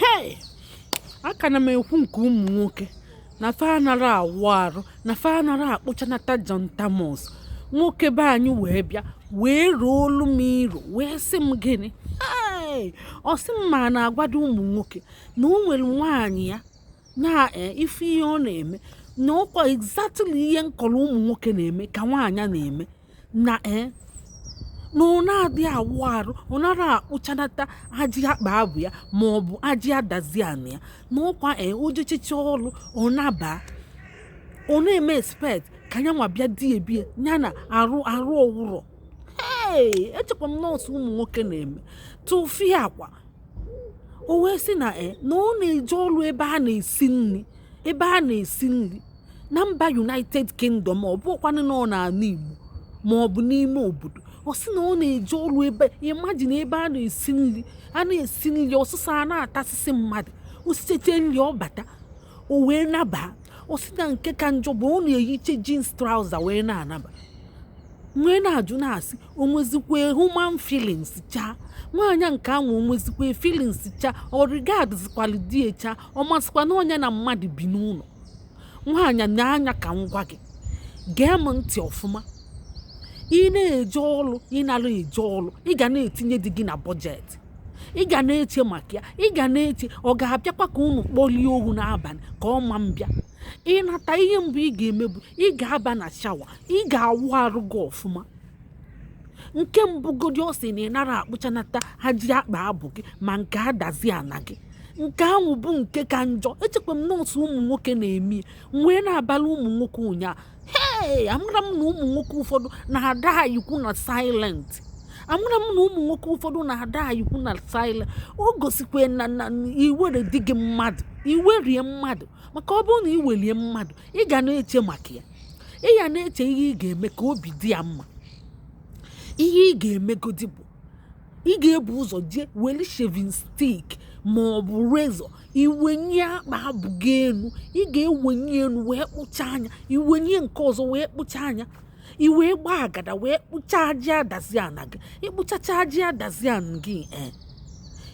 hei aka na m ekwu nke ụmụ nwoke na fa anara awụ arụ na fa anara akpụchanata John Thomas nwoke be anyị wee bịa wee ruo olu m iro wee sị m gịnị ọ sị m ma na-agwado ụmụ nwoke na o nwere nwaanyị ya na eh, ife ihe ọ na-eme na ọkwa exactly ihe m kọrọ ụmụ nwoke na-eme ka nwaanyị na-eme na ee eh, na ọ na-adị awụ arụ ọ nara akpụchanata ajị akpa abụ ya ma ọ bụ ajị adazi ana ya na ọkwa ee eh, o jechicha ọrụ ọ naba ọ na-eme expect ka ya nwa bịa di ebie ya na arụ ọ wụrọ ee echekwa m na ọ sọ ụmụ nwoke na-eme tụfịakwa o wee sị na e na ọ na-eje ọrụ ebe a na-esi nri ebe a na-esi nri na mba united kingdom ọ bụkwanụ na ọ n'ala igbo ma ọ bụ n'ime obodo ọ sị na ọ na-eje ọrụ ebe imagine ebe a na-esi nri a na-esi nri ọsụsọ a na-atasịsị mmadụ o sichete nri ọ bata o wee naba ọ sị na nke ka njọ bụ ọ na-eyiche jeans trouser wee na-anaba wee na-ajụ na-asị o nwezikwe human feelings cha nwaanyị a nke anwụ o nwezikwe feelings cha ọ regardzikwalị di ya cha ọ mazịkwa na ọ nya na mmadụ bi n'ụlọ nwaanyị nee anya ka m gwa gị gee m ntị ọfụma ị na-eje ọlụ ị nara eje ọlụ ị ga na-etinye di gị na budget ị ga na-eche maka ya ị ga na-eche ọ ga-abịakwa ka unu kpọlie ohu n'abalị ka ọ ma mbịa ị nata ihe mbụ ị ga-eme bụ ị ga-aba na shower ị ga-awụ arụ gị ọfụma nke mbụgodi ọ sị na ị nara akpụchanata ajị akpa abụ gị ma nke adazi ana gị nke ahụ bụ nke ka njọ echekwa m na ọ sọ ụmụ nwoke na-eme wee na-abala ụmụ nwoke ụnyaahụ hei amara m na ụmụ nwoke ụfọdụ na-adaịkwu na silent amara m na ụmụ nwoke ụfọdụ na-adaịkwu na silent o gosikwa na na i were di gị mmadụ i were ya mmadụ maka ọ bụrụ na i were ya mmadụ ị ga na-eche maka ya ị ya na-eche ihe ị ga-eme ka obi dị ya mma ihe ị ga-emegodi bụ ị ga-ebu ụzọ jee weli shaving stick ma ọ bụ razor i wenye akpa abụ gị elu ị ga-ewenye elu wee kpụchaa nya i wenye nke ọzọ wee kpụchaa nya i wee gbaa agada wee kpụchaa ajị adazi ana gị ị kpụchacha ajị adazi ana gị ee eh,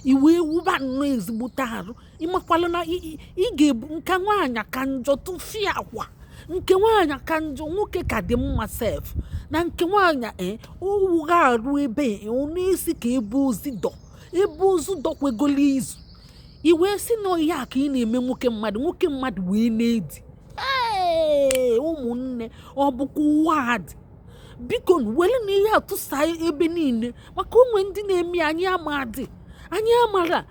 i wee wụba nnọọ ezigbote arụ ị makwala na ị ga-ebu nke nwaanyị ka njọ tụfịakwa nke nwaanyị ka njọ nwoke ka dị mma sef na nke nwaanyị e eh, ọ wụghị arụ ebe eh, ọ na-esi ka ebe ozu dọ ebe ozu dọkwegolo izu i wee sị na ihe a ka ị na-eme nwoke mmadụ nwoke mmadụ wee na-edi ee ụmụnne ọ bụ ka ụwa a dị biko werenụ ihe a tụsa ebe niile maka o nwe ndị na-eme anyị amadị anyị amara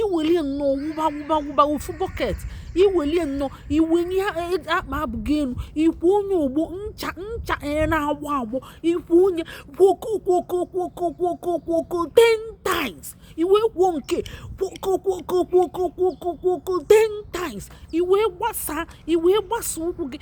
iwelie nnọọ wụba wụba wụba ofu bọket iwelie nnọọ iwenye e, akpa abụ gị elu ikwọnye ogbo ncha ncha e, na-agbọ agbọ ikwọnye kwokokwokokwokwokwokwokwoko ten times iwe kwọọ nke kwokokwokokwokwokwokwo ten times iwe gbasa iwe gbasa ụkwụ gị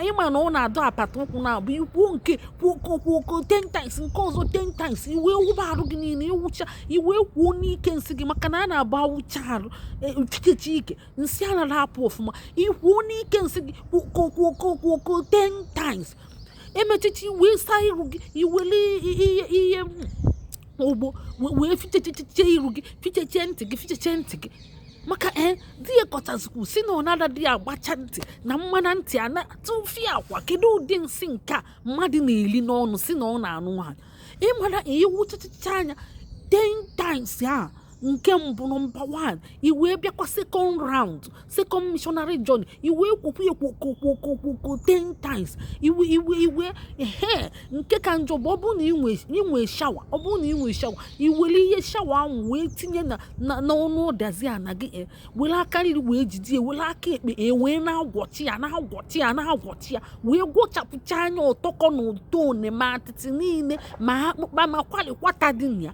ịma na ọ na-adọ apata ụkwụ naabọ ikwọ nke kwuokokwuoko ten times nke ọzọ ten times iwe wụba arụ gị niile ịwụcha iwe kwọọ n'ike nsị gị maka na a na-abụ awụcha arụ e, chikechi ike nsị anara apụ ọfụma ikwọọ n'ike nsị gị kwuokokwuokokwuoko ten times emechichi iwe saa iru gị iwele ihe ogbo wee fichechechechee iru gị fichechee ntị gị fichechee ntị gị maka ee di ya kọchazikwu sị na ọ nada dị ya agbacha ntị na mmana ntị a na-atụfi akwa kedu ụdị nsị nke a mmadụ na-eli n'ọnụ sị na ọ na-anụ nwaanyị ịmara ịwụchachacha anya 10 times a nke mbụ nọmba 1 i wee bịakwa second round second missionary journey i wee kwọkwu ya kwọkwọkwọkwọkwọ ten times iwe iwe iwe ehe nke ka njọ bụ ọ bụrụ na inwe inwe shawa ọ bụrụ na inwe shawa i were ihe shawa ahụ wee tinye na na n'ọnụ ọdazi ana gị eh, were aka nri wee jide ya were aka ekpe e wee na-agwọchi ya na-agwọchi ya na-agwọchi ya wee gwọchapụcha anya ọtọkọ na ụtọ one ma atịtị niile ma akpụkpa ma kwalikwata dị na ya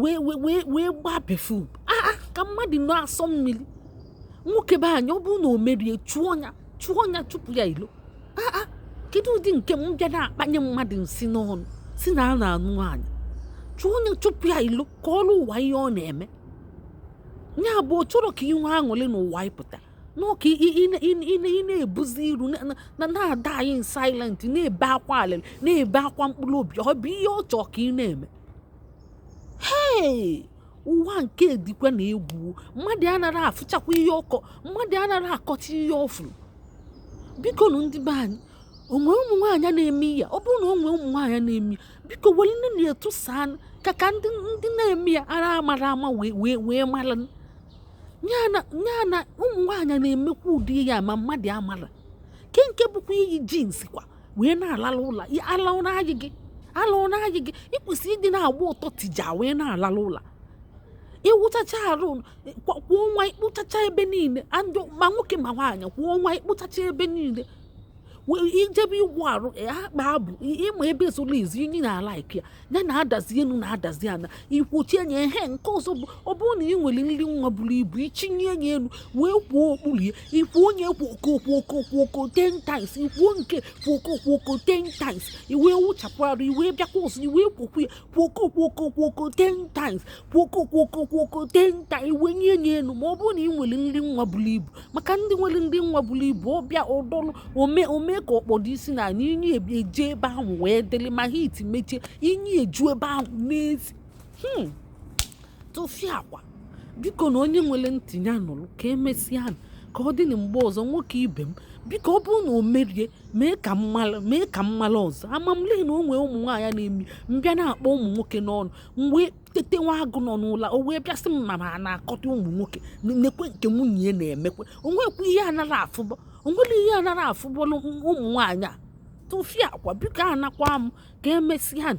wee wee wee wee gbaa perfume aa ka mmadụ na-asọ mmiri nwoke be anyị ọ bụrụ na o merie chụọ ya chụọ ya chụpụ ya ilo aa kedu ụdị nke m bịa na-akpanye mmadụ nsị n'ọnụ sị na a na-anụ nwaanyị chụọ ya chụpụ ya ilo ka ọrụ ụwa ihe ọ na-eme ya bụ ọ chọrọ ka ị nwee aṅụrị n'ụwa ịpụta n'ọka ị na-ebuzi iru na-adie in silent na-ebe akwa alịrị na-ebe akwa mkpụrụ obi ọ bụ ihe ọ chọọ ka ị na-eme hei ụwa nke dịkwanụ egwu mmadụ anaghị afụchakwa ihe ọ kọọ mmadụ anaghị akọcha ihe ọ fụrụ bikonụ ndị be anyị o nwe ụmụ nwaanyị na-eme ya ọ bụrụ na o nwe ụmụ nwaanyị na-eme biko werenụ na-etusa ka ka ndị ndị na-eme ya ara amara ama wee wee wee mara ya na ụmụ nwaanyị na-emekwa ụdị ya ma mmadụ amara ke nke bụkwa iyi jeans kwa wee na-alala ụra ala ụra anyị gị ala ụra anyị gị ị kwesịrị ịdị na-agba ọtọ tija wee na-alala ụra ịwụchacha arụ kwa ọnwa ịkpụchacha ebe niile ma nwoke ma nwaanyị kwa ọnwa ịkpụchacha ebe niile ijebe igwu arụ akpa abụ ma ebe zoro ezo inyi na-alike ya ya na-adazi elu na-adazi ana ikwochie nye ihe nke ọzọ bụ ọ bụrụ na ị nwere nri nwa buru ibu i chinie ya elu wee kwọọ okpuru ya ị kwọọ onye kwokokwokwokwoko ten times ị kwọọ nke kwokokwoko ten times i wee wụchapụ arụ i wee bịakwa ọzọ i wee kwọkwuo ya kwokokwokokwoko ten times kwokokwokokwoko ten times i wee nye ya elu ma ọ bụrụ na ị nwere nri nwa buru ibu maka ndị nwere nri nwa buru ibu ọ bịa ụdọlụ o mee ka ọ kpọdo isi n'ana inyi eju ebe ahụ wee dịrị ma heat mechie inyi eju ebe ahụ na-esi hmm. tụfịakwa biko na onye nwere ntị ya nụrụ ka e mesịa ka ọ dị na mgbe ọzọ nwoke ibe m biko ọ bụrụ na o merie mee ka m mala ọzọ ama m le na o nwee ụmụ nwaanyị na-eme m bịa na-akpọ ụmụ nwoke n'ọnụ mgbe tete nwa agụ nọ n'ụla o wee bịasị m ma na-akọta ụmụ nwoke nekwe nke nwunye ya na-emekwe o nwekwa ihe anara afụbọ o nwere ihe anara afụbọlụ ụmụ nwaanyị a tụfịakwa biko anakwa m ka e mesịa na